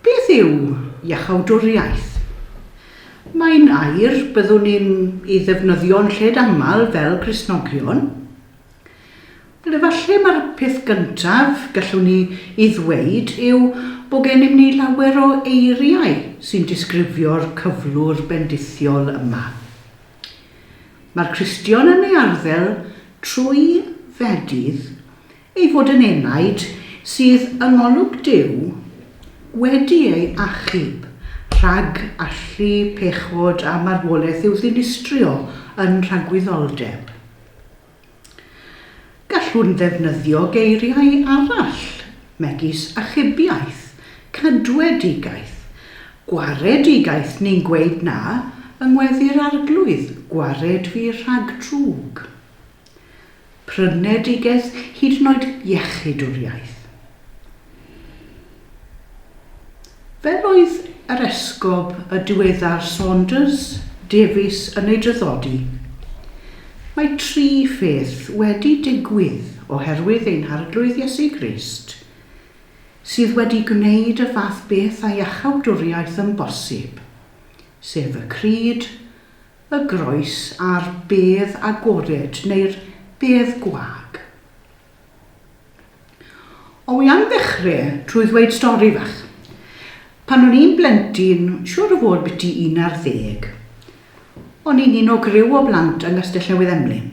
Beth yw iachawdwriaeth? Mae'n air byddwn ni'n ei ddefnyddio'n lled aml fel Cristnogion. Wel, efallai mae'r peth gyntaf gallwn ni ei ddweud yw bod gennym ni lawer o eiriau sy'n disgrifio'r cyflwr bendithiol yma. Mae'r Cristion yn ei arddel trwy fedydd ei fod yn enaid sydd yng ngolwg Duw wedi ei achub rhag allu pechod a marwolaeth i'w ddinistrio yn rhagwyddoldeb. Gallwn ddefnyddio geiriau arall, megis achubiaeth, cadwedigaeth, gwaredigaeth neu'n gweud na yng ngweddu'r Arglwydd, gwared fi rhag drwg. Prynedigaeth hyd yn oed iechyd yw'r iaith. Fel oedd yr Esgob y diweddar Saunders Davies yn ei draddodi, Mae tri pheth wedi digwydd oherwydd ein Harglwydd Iesu Grist sydd wedi gwneud y fath beth â iachawdwriaeth yn bosib, sef y Crud, y Groes a'r bedd agored neu'r bedd gwag. O i am ddechre trwy ddweud stori fach. Pan o'n i'n blentyn, siŵr o fod biti un ar ddeg, o'n i'n un o griw o blant yng Nghastell Newydd Emlyn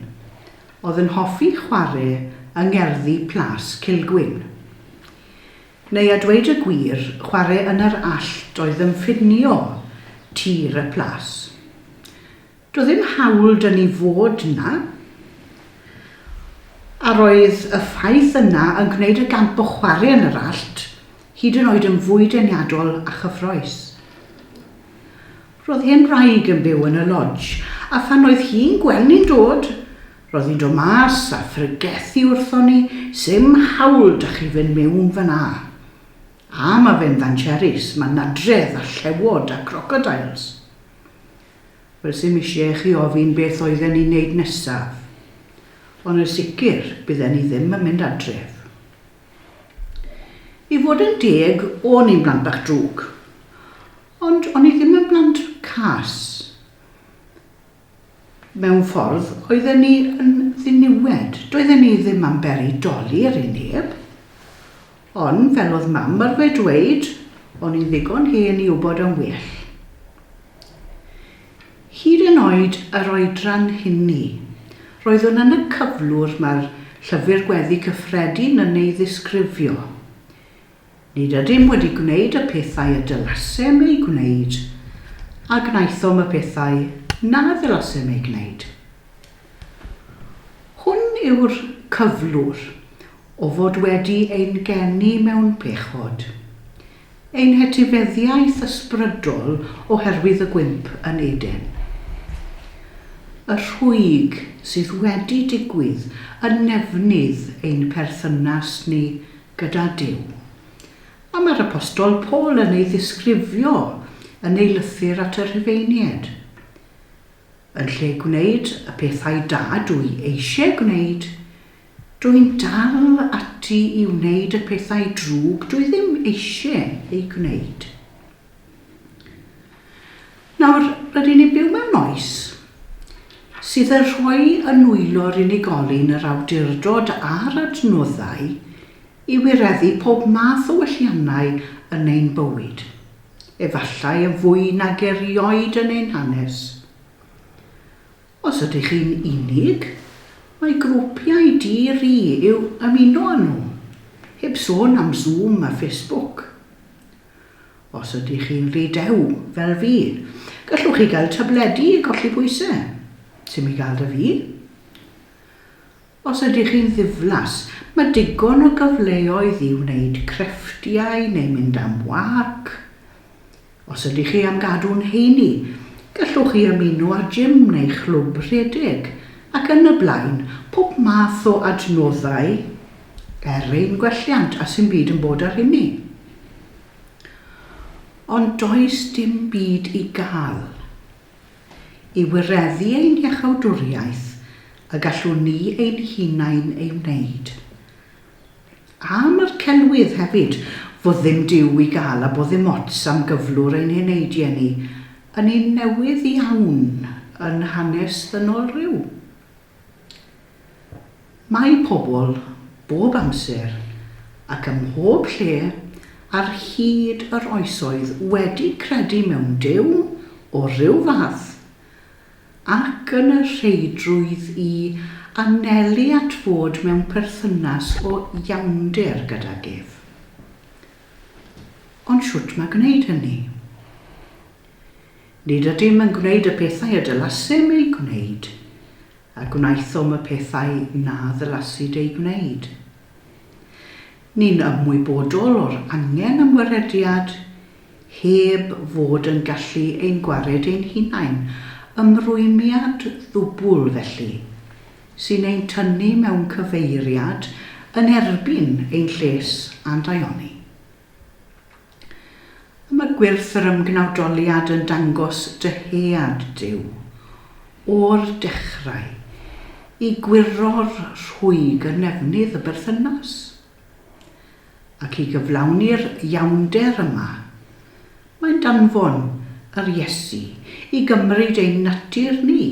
o'dd yn hoffi chware yng ngerddi Plas Cilgwyn. Neu a dweud y gwir, chware yn yr allt oedd yn ffinio tir y plas. Doedd ddim hawl 'da ni fod 'na, a roedd y ffaith yna yn gwneud y gamp o chwarae yn yr allt hyd yn oed yn fwy deniadol a chyffrous. Roedd hen wraig yn byw yn y lodge, a phan oedd hi'n gweld ni'n dod, roedd hi'n dod mas a phregethu wrthon ni, 'S'im hawl 'da chi fynd mewn fan'na. A mae fe'n fancherries, mae'n nadredd a llewod a crocodiles. Fysem isie i chi ofyn beth oedden ni'n neud nesaf, ond yn sicr bydden ni ddim yn mynd adref. I fod yn deg, o'n i'n blant bach drwg, ond o'n i ddim yn blant cas. Mewn ffordd, oedden ni yn ddiniwed, doedden ni ddim am beri doli ar ei neb. Ond fel oedd Mam arfer dweud, o'n i'n ddigon hen i wybod am well. Hyd yn oed yr oedran hynny, roeddwn yn y cyflwr mae'r Llyfr Gweddi Cyffredin yn ei ddisgrifio. Nid ydym wedi gwneud y pethau y dylasem eu gwneud, a gwnaethom y pethau na ddylasem eu gwneud. Hwn yw'r cyflwr o fod wedi ein geni mewn pechod. Ein hetifeddiaeth ysbrydol oherwydd y gwymp yn Eden. Y rhwyg sydd wedi digwydd yn nefnydd ein perthynas ni gyda Duw. A mae'r Apostol Paul yn ei ddisgrifio yn ei lythyr at y Rhufeinied. Yn lle gwneud y pethau da dw i eisiau gwneud, dw i'n dal ati i wneud y pethau drwg dw i ddim eisiau eu gwneud. Nawr, rydyn ni'n byw mewn oes sydd yn rhoi y nwylo'r unigolyn yr awdurdod a'r adnoddau i wireddu pob math o welliannau yn ein bywyd. efallai yn fwy nag erioed yn ein hanes. Os ydych chi'n unig, mae grwpiau dir i i'w ymuno â nhw, heb sôn am Zoom a Facebook. Os ydych chi'n rhy dew, fel fi, gallwch chi gael tabledi i golli pwysau. Sim i gael 'da fi. Os ydych chi'n ddiflas, mae digon o gyfleoedd i wneud crefftiau neu mynd am wâc. Os ydych chi am gadw'n heini, gallwch chi ymuno â gym neu chlwb rhedeg, ac yn y blaen, pob math o adnoddau er ein gwelliant a 'sdim byd yn bod â'r hynny. Ond does dim byd i gael. i wireddu ein hiachawdwriaeth y gallwn ni ein hunain ei wneud. A mae'r celwydd hefyd, fod ddim Duw i gael a bod ddim ots am gyflwr ein heneidie ni, yn un newydd iawn yn hanes ddynol rhyw? Mae pobl bob amser ac ym mhob lle ar hyd yr oesoedd wedi credu mewn Duw o ryw fath, ac yn y rheidrwydd i anelu at fod mewn perthynas o iawnder gydag ef. Ond shwt mae gwneud hynny? Nid ydym yn gwneud y pethau y dylasem eu gwneud, a gwnaethom y pethau na ddylasid eu gwneud. Ni'n ymwybodol o'r angen am wrediad, heb fod yn gallu ein gwared ein hunain, ymrwymiad ddwbl, felly, sy'n ein tynnu mewn cyfeiriad yn erbyn ein lles a'n daioni. Y mae gwyrth yr ymgnawdoliad yn dangos dy head Duw, o'r dechrau, i gwyro'r rhwyg yn nefnydd y berthynas. Ac i gyflawni'r iawnder yma, mae'n danfon yr Iesu i gymryd ein natur ni,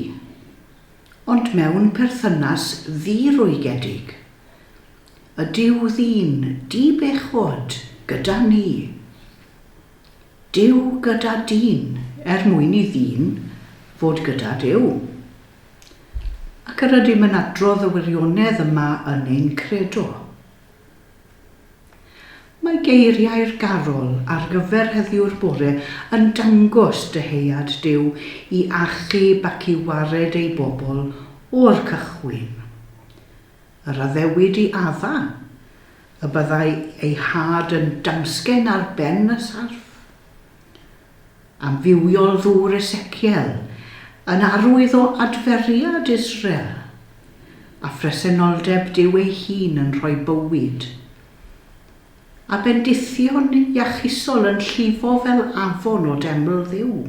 ond mewn perthynas ddi-rwygiedig, Ydyw ddyn di bechod gyda ni? Duw gyda dyn er mwyn i ddyn fod gyda Duw. Ac yr ydym yn adrodd y wirionedd yma yn ein credo. Mae geiriau'r garol ar gyfer heddiw'r bore yn dangos dyhead Duw i achub ac i wared ei bobl o'r cychwyn. yr addewid i Adda, y byddai ei had yn damsgen ar ben y sarff. Amrywiol ddŵr Esekiel yn arwydd o adferiad Israel, a phresenoldeb Duw ei hun yn rhoi bywyd. A bendithion iachusol yn llifo fel afon o deml Dduw.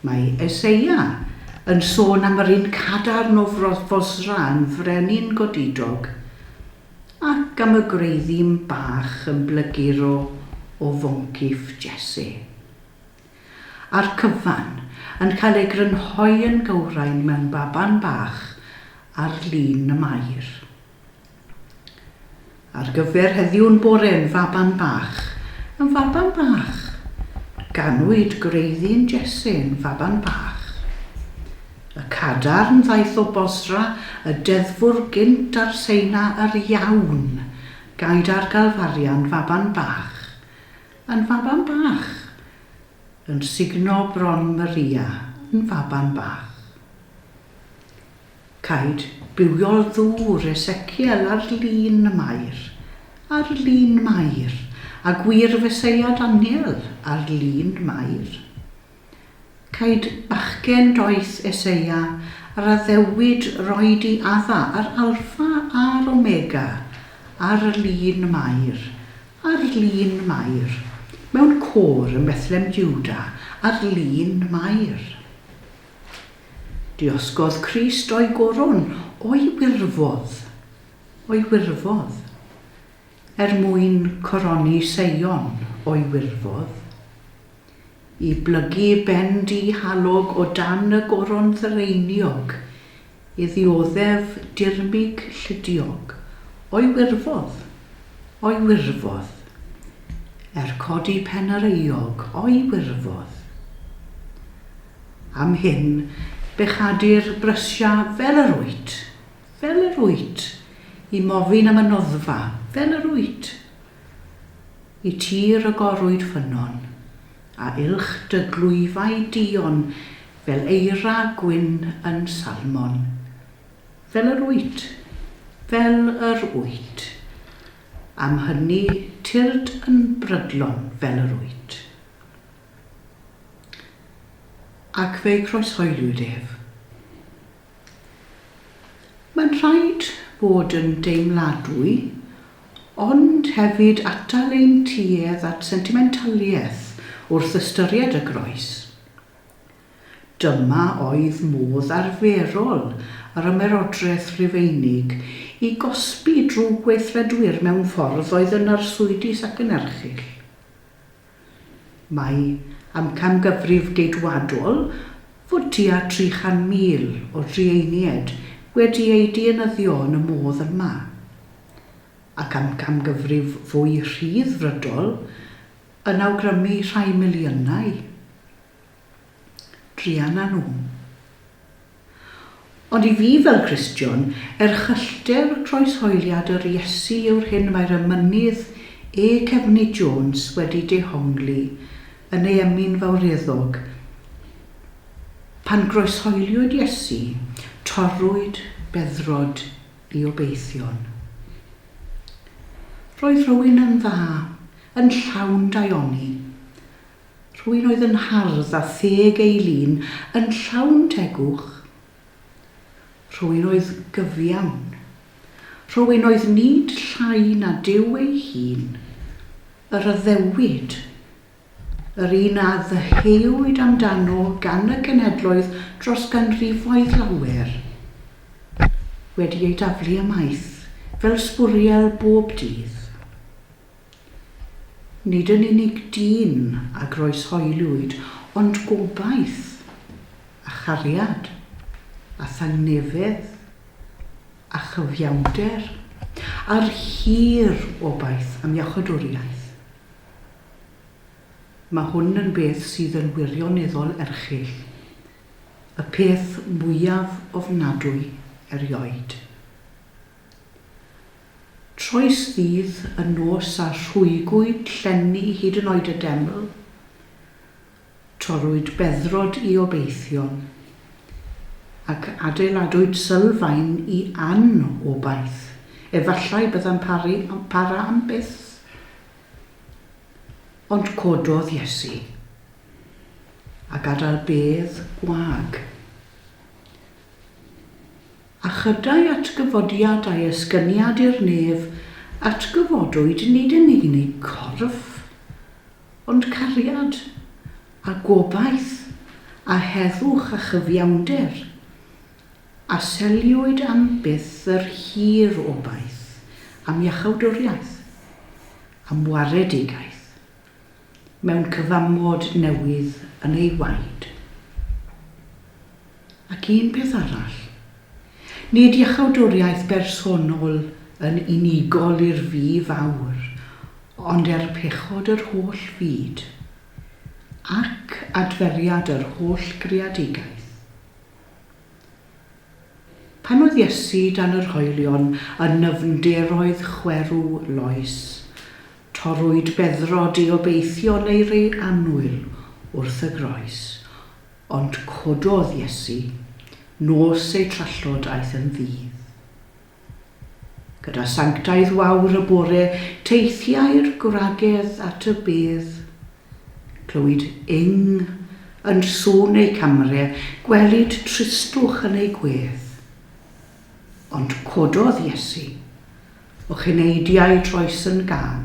Mae Eseia yn sôn am yr un cadarn o froth Fosra yn frenin godidog, ac am y gwreiddyn bach yn blyguro o foncyff Jesse. A'r cyfan yn cael ei grynhoi yn gywrain mewn baban bach ar lun y Mair. Ar gyfer heddiw yn bore yn faban bach, yn faban bach. Ganwyd gwreiddyn Jesse yn faban bach. Y cadarn ddaeth o Bosra y deddfwr gynt ar Seina yr iawn, gaed ar Galfaria yn faban bach, yn faban bach. Yn sugno bron Maria yn faban bach. Caed bywiol ddŵr Esekiel ar lin Mair, ar lin Mair, a gwir Feseia Daniel ar lin Mair. Caed bachgen doeth Eseia yr addewid roi di adda yr Alffa a'r Omega ar lin Mair, ar lin Mair, mewn côr ym Bethlem Juda ar lin Mair. Diosgodd Crist o'i goron, o'i wirfodd, o'i wirfodd, er mwyn coroni Seion, o'i wirfodd, i blygu ben di-halog o dan y goron ddraeniog, i ddioddef dirmyg llidiog, o'i wirfodd, o'i wirfodd, er codi pen yr euog, o'i wirfodd. Am hyn, bechadir brysia fel yr wyt, fel yr wyt, i mofyn am y noddfa, fel yr wyt. Y ti rygorwyd ffynnon, a uwch dy glwyfau duon fel eira gwyn yn Salmon, fel yr wyt, fel yr wyt. Am hynny, tyrd yn brydlon fel yr wyt. Ac fe'i croeshoeliwyd ef. Mae'n rhaid bod yn deimladwy, ond hefyd atal ein tuedd at sentimentaliaeth wrth ystyried y Groes. Dyma oedd modd arferol yr Ymerodraeth Rufeinig i gosbi drwy gweithredwyr mewn ffordd oedd yn arswydus ac yn erchyll. Mae amcangyfrif Geidwadol fod tua 300,000 o drueiniaid wedi eu dienyddio yn y modd yma, ac amcangyfrif fwy rhydd-frydol yn awgrymu rhai miliynau. druan â nhw. Ond i fi fel Cristion, erchyllter croeshoeliad yr Iesu yw'r hyn mae'r emynydd E. Cefny Jones wedi dehongli yn ei emyn fawreddog, Pan groeshoeliwyd Iesu, torrwyd beddrod i obeithion. Roedd rhywun yn dda, yn llawn daioni, Rhywun oedd yn hardd a theg ei lun yn llawn tegwch. Rhywun oedd gyfiawn. Rhywun oedd nid llai na Duw ei hun, yr addewid, yr un a ddyheuwyd amdano gan y genedloedd dros ganrifoedd lawer, wedi ei daflu ymaith fel sbwriel bob dydd. Nid yn unig dyn a groeshoeliwyd ond gobaith, a chariad, a thangnefedd, a chyfiawnder, a'r hir obaith am iachawdwriaeth. Mae hwn yn beth sydd yn wirioneddol erchyll, y peth mwyaf ofnadwy erioed. Troes ddydd y nos a rhwygwyd llenni hyd yn oed y deml, torrwyd beddrod i obeithion, ac adeiladwyd sylfaen i an-obaith, efallai byddai'n para am byth. Ond cododd Iesu, a gadael bedd gwag. A chyda'i atgyfodiad a'i esgyniad i'r nef, atgyfodwyd nid yn unig corff, ond cariad, a gobaith, a heddwch a chyfiawnder. A seliwyd am byth yr hir obaith am iachawdwriaeth, am waredigaeth. mewn cyfamod newydd yn ei waed. Ac un peth arall. Nid iachawdwriaeth bersonol yn unigol i'r Fi Fawr, ond er pechod yr holl fyd, ac adferiad yr holl greadigaeth. Pan oedd Iesu dan yr hoelion yn nyfnderoedd chwerw loes, Torrwyd beddrod i obeithio neu rei annwyl wrth y groes, ond cododd Iesu, nos ei trallod aeth yn ddydd. Gyda sanctaidd wawr y bore teithiai'r gwragedd at y bedd. Clywid ing yn sŵn eu camre, gwelid tristwch yn eu gwedd. Ond cododd Iesu, O cyneidiau troes yn gân.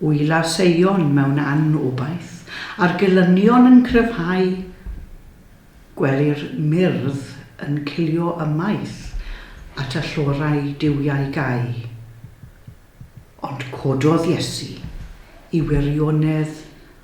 Ŵyl ar seion mewn anobaith, a'r gelynion yn cryfhau, gwelir myrdd yn cilio ymaith at y llorau duwiau gau. Ond cododd Iesu i wirionedd